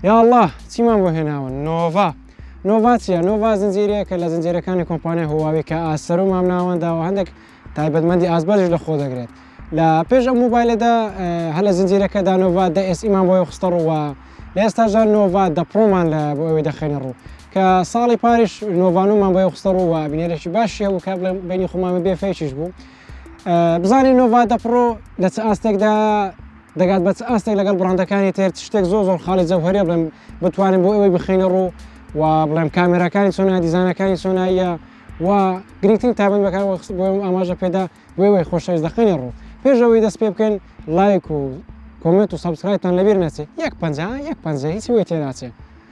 یا اللە چیمان بۆ هێناوە نۆڤا نۆڤا چیە نۆڤا زنجیرەیەکە لە زنجیرەکانی کۆمپانیای هواوی کە ئاسەر و مامناوەنداوە هەندێک تایبەتمەندی ئازبەرش لە خۆ دەگرێت لە پێش ئەم موبایلەدا هە لە زنجیرەکەدا نۆڤا دە ئێس ئیمان بۆی خستە ڕووە لە ئێستاژە نۆڤا دە پرۆمان لە بۆ ئەوی دەخێنە ڕوو کە ساڵی پاریش نۆڤانومان بۆی خستە ڕووە بینێرەی باشی هەبوو کە بڵێ بینی خۆمانە بێفەیشیش بوو بزانین نۆڤادە پڕۆ لە چ ئاستێکدایە دەگات بە چ ئاستێک لەگەڵ بڕاندەکانی تێر شتێک زۆر زۆر خاڵی جەوهریە بڵێم بتوانین بۆ ئەوەی بخینە ڕوو و بڵێم کامێراکانی چۆنە دیزانەکانی چۆناییە و گرنگترین تابند بەکار بۆم ئاماژە پێدا بۆەوەی خۆشەویست دەخینە ڕوو پێشەوەی دەست پێ بکەین لایک و کۆمنت و سەبسکرایتان لەبیر نەچێت یەک پەنجا یەک پەنجە هیچی وی تێناچێت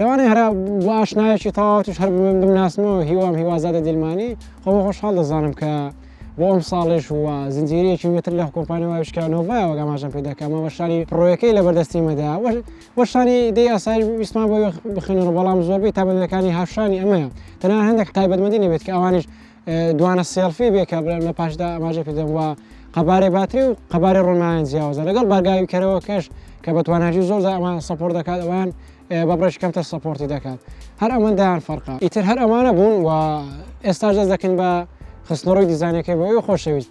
لەوانەیە هەرا بۆ ئاشنایەکی تەواوتیش هەر بڵێم بمناسمەوە هیوام هیوازادە دیلمانی خۆ بە خۆشحاڵ دەزانم کە بۆ ئەم ساڵێش وە زنجیرەیەکی وێتر لە کۆمپانیا وایشکانەوەڤایەوە گەماژەم پێ دەکەمە وەشانی پڕۆیەکەی لە بەردەستی مەدا وەشانی دەی ئاسایی ویسمان بۆ بخێنەوە بەڵام زۆربەی تابەندەکانی هاشانی ئەمەیە تەنها هەندێک تایبەتمەندی نەبێت کە ئەوانش دوانە سێڵفی بێ کابرا لە پاشدا ئاماژە پێدەم وە قەبارەی باتری و قەبارەی ڕۆنایان جیاوازە لەگەڵ بارگاوی کەرەوە کەش کە بە تواناجی زۆر ئەمان سپۆر دەکات ئەوان بە بڕێش کەمتر سپۆرتی دەکات هەر ئەمەندایان فەرقا ئیتر هەر ئەمانە بوون و ئێستا جەز دەکەن بە خستنەڕۆی دیزانەکەی بۆ ئەو خۆشەویست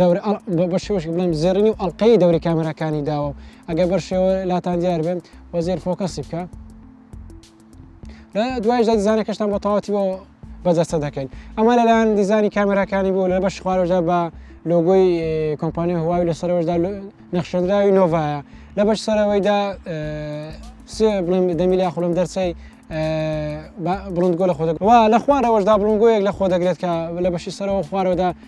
دەورە ئەڵ بە بە شێوەشێک بڵێم زێڕینی و ئەڵقەی دەوری کامێراکانی داوە و ئەگەر بەر شێوە لاتان دیار بێن وە زێر فۆکەسی بکە لە دوایشدا دیزانەکەشتان بۆ تەواتی بۆ بەدەستە دەکەین ئەمە لەلایەن دیزانی کامێراکانی بوو لە بەش خوارەوەدا بە لۆگۆی کۆمپانی هواوی لە سەرەوەشدا نەخشێنراوی نۆڤایە لە بەش سەرەوەیدا سێ بڵێم دەمیلا خولم دەرچەی بڵندگۆ لە خۆدەک وا لە خوارەوەشدا بڵنگۆیەک لە خۆ دەگرێت کە لە بەشی سەرەوە خوارەوەدا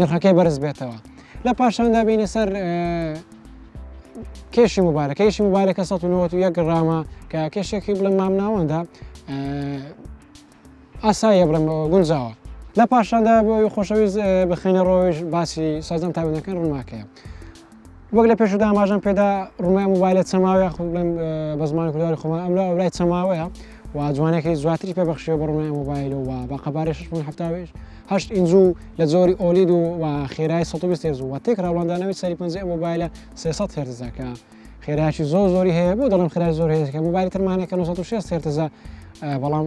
نرخەکەی بەرز بێتەوە لە پاشاندا بینە سەر کێشی مبارە کەیشی مبارەکە 1991 گرامە کە کێشێکی بڵم مامناوەدا ئاسایە بڵم گونجاوە لە پاشاندا بۆی خۆشەویست بخینە ڕۆژ باسی سازم تابنەکەن ڕووناکەیە وەک لە پێشدا ئاماژەم پێدا ڕومای موبایلە چەماوە یاخود بڵێم بە زمانی کورداری خۆمان ئەم لە ئەولای چەماوەیە و جوانەکەی زواتری پێ بەخشیەوە بە ڕومای موبایل و بە قەبارەی 6.7 هەشت ئینجو لە جۆری ئۆلید و و خێرای 120 هێرز و تێک ڕاوەندانەوەی سەری پەنجە ئەم موبایلە 300 هێرزەکە خێرایکی زۆر زۆری هەیە بۆ دەڵم خێرای زۆر هێزەکە موبایل ترمانەکە 1960 هێرتزە بەڵام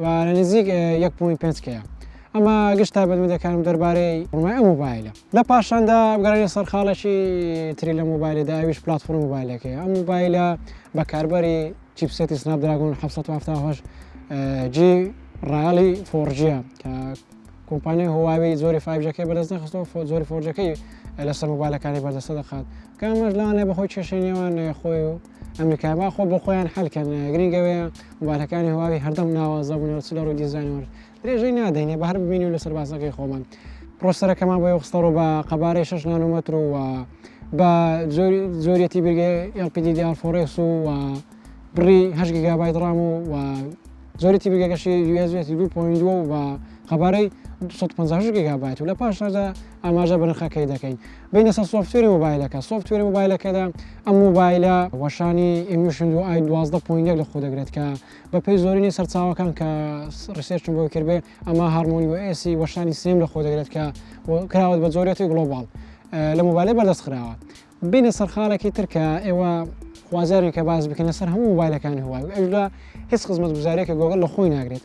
و لە نزیک یەک پوێنت پێنج کەیە. ئەمە گشت تایبەتمەندەکانم دەربارەی بڕمای ئەم مۆبایلە لە پاشاندا بگەڕێنە سەر خاڵێکی تری لە مۆبایلدا ئەویش پلاتفۆرم مۆبایلەکەی ئەم مۆبایلە بەکاربەری چیپسێتی سناپ دراگۆن 1970 جی ڕالی فۆرجیە کە کۆمپانیای هواوی زۆری فایبجەکەی بەدەست نەخستەوە فۆ زۆری فۆرجەکەی لەسەر مۆبایلەکانی بەردەستە دەخات کامەش لانێ بەخۆی کێشەی نێوان خۆی و ئەمریکای با خۆ بۆ خۆیان حەل کەن گرینگە وەیە موبایلەکانی هواوی هەردەم ناوازە بوون و چ لە ڕووی دیزاینەوە درێژەی نادەینێ بە هەر ببینی و لە سەربازەکەی خۆمان پرۆسەرەکەمان بۆ خستەڕۆ بە قەبارەی 6 نانۆمەتر و بە زۆریەتی بگە LPD دیارفۆڕێس و بڕی هەشت گیگابایت ڕام و و زۆرێتی بگەکەشی یوێزێتی دوو پویندوە و بە قەبارەی 250 گیگابایت و لە پاشنادا ئاماژە بنرخەکەی دەکەین. بێینە سەر سۆفتوێری مۆبایلەکە سۆفتوێری مۆبایلەکەدا ئەم مۆبایلە وەشانی ئیمیشن و ئای دوازدە پوین لە خۆ دەگرێت کە بەپی زۆرینی سەرچاوەکان کە ڕسێرچم بۆ کردێ ئەمە هارمۆنی و ئێسی وەشانی سێم لە خۆ دەگرێت کە کراوەت بە زۆرێتی گڵۆباڵ لە مۆبایلە بەردەست خراوە بینە سەرخانێکی ترکە ئێوە خوازیارێکە باز بکەنە سەر هەموو مۆبایلەکانی هوای ئەشدا هیچ خزمەت گوزارێکە گۆگەل لە خۆی ناگرێت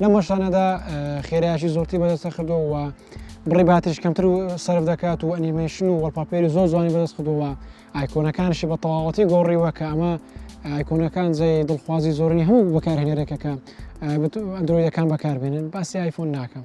لەم هەشتانەدا خێرایشی زۆرتی بەدەستە کردەوە و بڕی باتریش کەمتر و سرف دەکات و ئەنیمەیشن و وەڵپاپێری زۆر جوانی بەدەست کردووە ئایکۆنەکانشی بە تەواوەتی گۆڕیوە کە ئەمە ئایکۆنەکان جێ دڵخوازی زۆرنی هەموو بەکارهێنەرێکەکە ئەندرۆیدەکان بەکاربێنن باسی ئایفۆن ناکەم.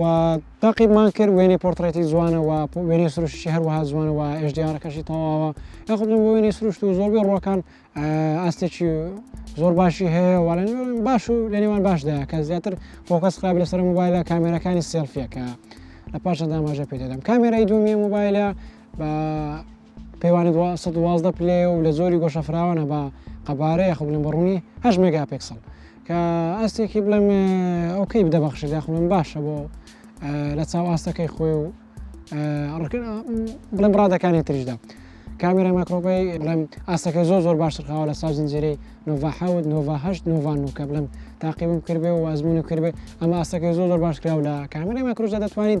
و تاقیبمان کرد وێنەی پۆرتڕێتی جوانە و وێنەی سروشتشی هەروەها جوانە و ئێشدیارەکەشی تەواوە یاخودم بۆ وێنەی سروشت و زۆربەی ڕۆکان ئاستێکی زۆر باشی هەیە وڵێن باش و لە نێوان باشدا کە زیاتر فۆکەس قابل لەسەر موبایلە کامێرەکانی سێلفیەکە لە پاشە داماژە پێ دەدەم کامێرای دومی موبایلە بە پێوانی دوو سەد و دوازدە پلەیە و لە جۆری گۆشە فراوانە بە قەبارە یاخود بڵێم بە ڕوونی هەشت مێگاپێکسڵ کە ئاستێکی بڵێم ئەو کەی بدەبەخشێت یاخود بڵێم باشە بۆ لە چاو ئاستەکەی خۆی و بڵێم ڕادەکانی تریشدا کامێرای ماکرۆبەی بڵێم ئاستەکەی زۆر زۆر باشتر خاوە لە ساو زنجێری نۆڤحەوت نۆڤهشت نۆڤان و کە بڵێم تاقیبم کردێ و وازمونی کردێ ئەمە ئاستەکەی زۆر زۆر باش کراو لە کامێرای ماکرۆژدا دەتوانین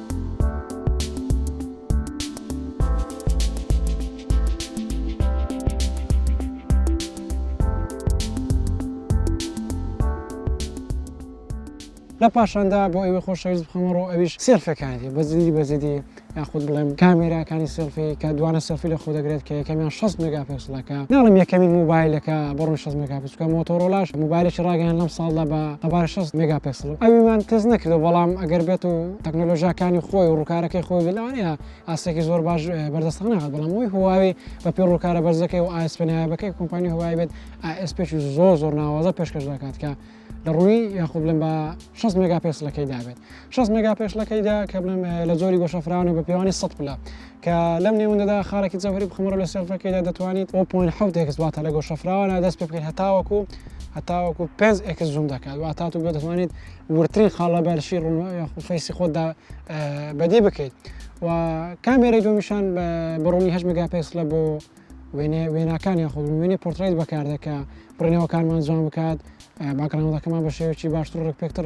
لە پاشاندا بۆ ئەوەی خۆشەویست بخەمە ڕۆ ئەویش سێلفەکانی بەزیدی بەزیدی یاخود بڵێم کامێراکانی سێلفی کە دوانە سەفی لە خۆ دەگرێت کە یەکەمیان 6 مگاپکسلەکە ناڵم یەکەمین موبایلەکە بڕۆ 6 مگاپس کە مۆتۆرۆلاش مۆبایلێکی ڕاگەیاند لەم ساڵدا بە قەبارە شەست مێگا پێکسڵ ئەویمان تێست نەکردەوە بەڵام ئەگەر بێت و تەکنۆلۆژیاکانی خۆی و ڕووکارەکەی خۆی بێت لەوانەیە ئاستێکی زۆر باش بەردەستان نەهات بەڵام ئەوی هواوی بە پێ ڕووکارە بەرزەکەی و ئایس پێنایابەکەی کۆمپانی هوای بێت ئایس پێکی زۆر زۆر ناوازە پێشکەش دەکات کە لە ڕووی یاخود بڵێم بە 6 مگا پێسلەکەی دابێت 6 مگا پێشلەکەیدا کە بڵێم لە زۆری گۆشەفراونە بە پێوانی سە پلە کە لەم نێوەندەدا خاڵێکی جەوهەری بخەمەڕوو لە سێڵفەکەیدا دەتوانیت بۆ پۆینت حەوت ئێکس واتە لە گۆشە فراوانە دەست پێ بکەیت هەتاوەکو هەتاوەکو پێنج ئێکس زووم دەکات واتە تو دەتوانیت وردترین خاڵ لە بەرشی ڕوون یاخود فەیسی خۆتدا بەدی بکەیت و کامێرەی دومیشان بە ڕوونی هەشت مگاپێکسلە بۆ وێنێ وێناکان یاخود وێنێ پۆرتڕیت بەکاردەکە بڕینەوەکانمان جوان بکات باکڕاندەکەمان بە شێوەیەکی باشتر ڕێکپێکتر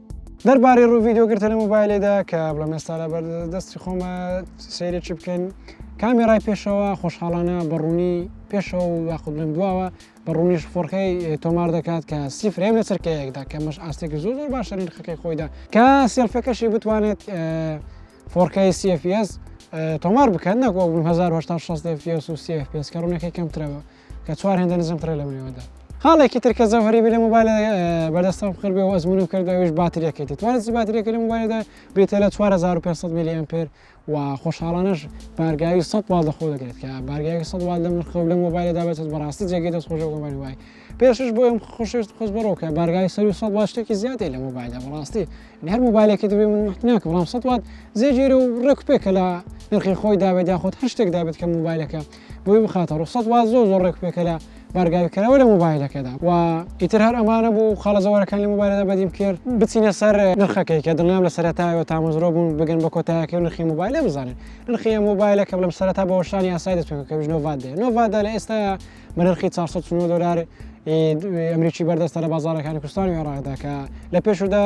دەربارەی ڕوو ڤیددیو گرتە لە مۆبایلێدا کە بڵم ئێستا لە بەر دەستی خۆمە سێرێکی بکەن کامێرای پێشەوە خۆشحاڵانە بەڕوونی پێشەوە و یاخود بڵم دواوە بە ڕوونیش فۆرکەی تۆمار دەکات کە سی فرێم لە چرکەیەکدا کە مەش ئاستێکی زۆر زۆر باشە نرخەکەی خۆیدا کە سێلفەکەشی بتوانێت فۆرکەی CFS تۆمار بکەن نەکۆ 1960 FPS و CFPS کە ڕوونەکەی کەمترەوە کە چوار هێندە نزم ترە لە بنێوەدا خاڵێکی تر کە زەوهری لە موبایل بەدەستم بخر بێ و ئەزمونم کردەوەش باتریەکەیت توانست باتریەکە لە موبایلدا بێتە لە 4500 میلی ئەمپێر و خۆشحاڵانش بارگاوی 100 وال دەخۆ دەکرێت کە بارگاوی 100 وال لە مرخە و لە موبایلدا بێت بەڕاستی جێگەی دەست خۆش گومانی وای پێشش بۆ ئەم خۆشویست خۆش بڕۆکە بارگاوی 100 وال شتێکی زیادی لە موبایلدا بەڕاستی هەر موبایلێکی دەبێ من ناکە بەڵام 100 وات زێگیرە و ڕێک پێکە لە نرخی خۆی داوێت یاخۆت هەر شتێک دابێت کە موبایلەکە بۆی بخاتە ڕوخسەت وا زۆر زۆر ڕێک پێکەرە بارگاویکەرەوە لە موبایلەکەدا و ئیتر هەر ئەمانە بوو خاڵەزەوەرەکان لە موبایلدا بەدیم کرد بچینە سەر نرخەکەی کە دڵنیام لە سەرەتایەوە تامەزرۆ بوون بگەن بە کۆتایەکەی و نرخی موبایلە بزانن نرخی موبایلە کە بڵم سەرەتا بە وەشانی یاسای دەستوێکە کە نۆڤات دێ نۆڤادا لە ئێستا بە نرخی 400 دلار ئەمریکی بەردەستە لە بازارەکانی کوردستانی عێراقدا کە لە پێشودا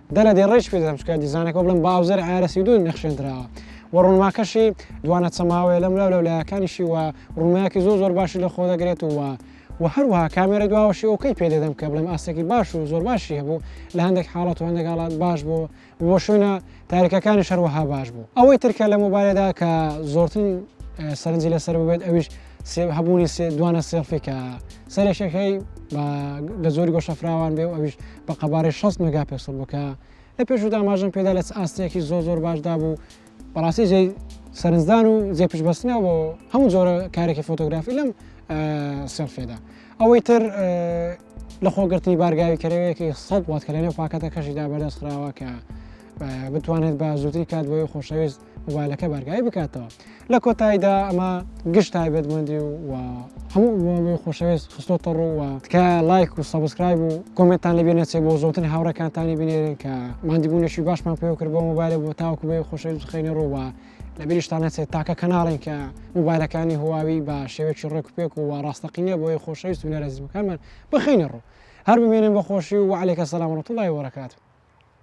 دەرەدێ ڕێیش پێ دەدەم چونکە دیزانەکە بڵێم باوزەر ئایارە سی دوو نەخشێندراوە و ڕوونماکەشی دوانە چەماوەیە لەم لاو لەو لایەکانیشی و ڕوونمایەکی زۆر زۆر باشی لە خۆ دەگرێت و و هەروەها کامێرە دواوەشی ئەوکەی پێ دەدەم کە بڵێم ئاستێکی باش و زۆر باشی هەبوو لە هەندێک حاڵەت و هەندێک حاڵات باش بوو بۆ شوێنە تاریکەکانی شەروەها باش بوو ئەوەی ترکە لە مۆبایلەدا کە زۆرتن سەرنجی لەسەر ببێت ئەویش هەبوونی دوانە سێڵفی کە سەرێکەکەی بە زۆری گۆشەفراوان بێ و ئەویش بە قەبارەی شەست مێگا پێکسڵ بوو کە لە پێشوو داماژەم پێدا لە چ ئاستێکی زۆر زۆر باشدا بوو بەڕاستی جێی سەرنجدان و جێ پشتبەستنە بۆ هەموو جۆرە کارێکی فۆتۆگرافی لەم سێلفێدا ئەوەی تر لە خۆگرتنی بارگاوی کەرەوەیەکی سەد وات کە لەنێو پاکەتەکەشیدا بەدەستخراوە کە بتوانێت بە زووتری کات بۆی خۆشەویست موبایلەکە بارگای بکاتەوە لە کۆتاییدا ئەمە گشت تایبەتمەندی و و هەموو ئەوەی خۆشەوێست خستۆتە ڕووە تکە لایک و سەبسکرایب و کۆمنتان لەبێ نەچێ بۆ زۆتر هاوڕەکانتانی بنێرن کە مادیبوونەشی باشمان پێ کرد بۆ موبایلە بۆ تاوکو بێ خۆشەویست خەینە ڕووە لە بریشتان نەچێت تاکە کەناڵێن کە موبایلەکانی هواوی بە شێوێکی ڕێک پێک و ڕاستەقینە بۆی خۆشەویست و نەرەزیبەکانمان بخینە ڕوو هەر بمێنن بە خۆشی و وعلێکە سەلام ڕەتوڵی وەرەکات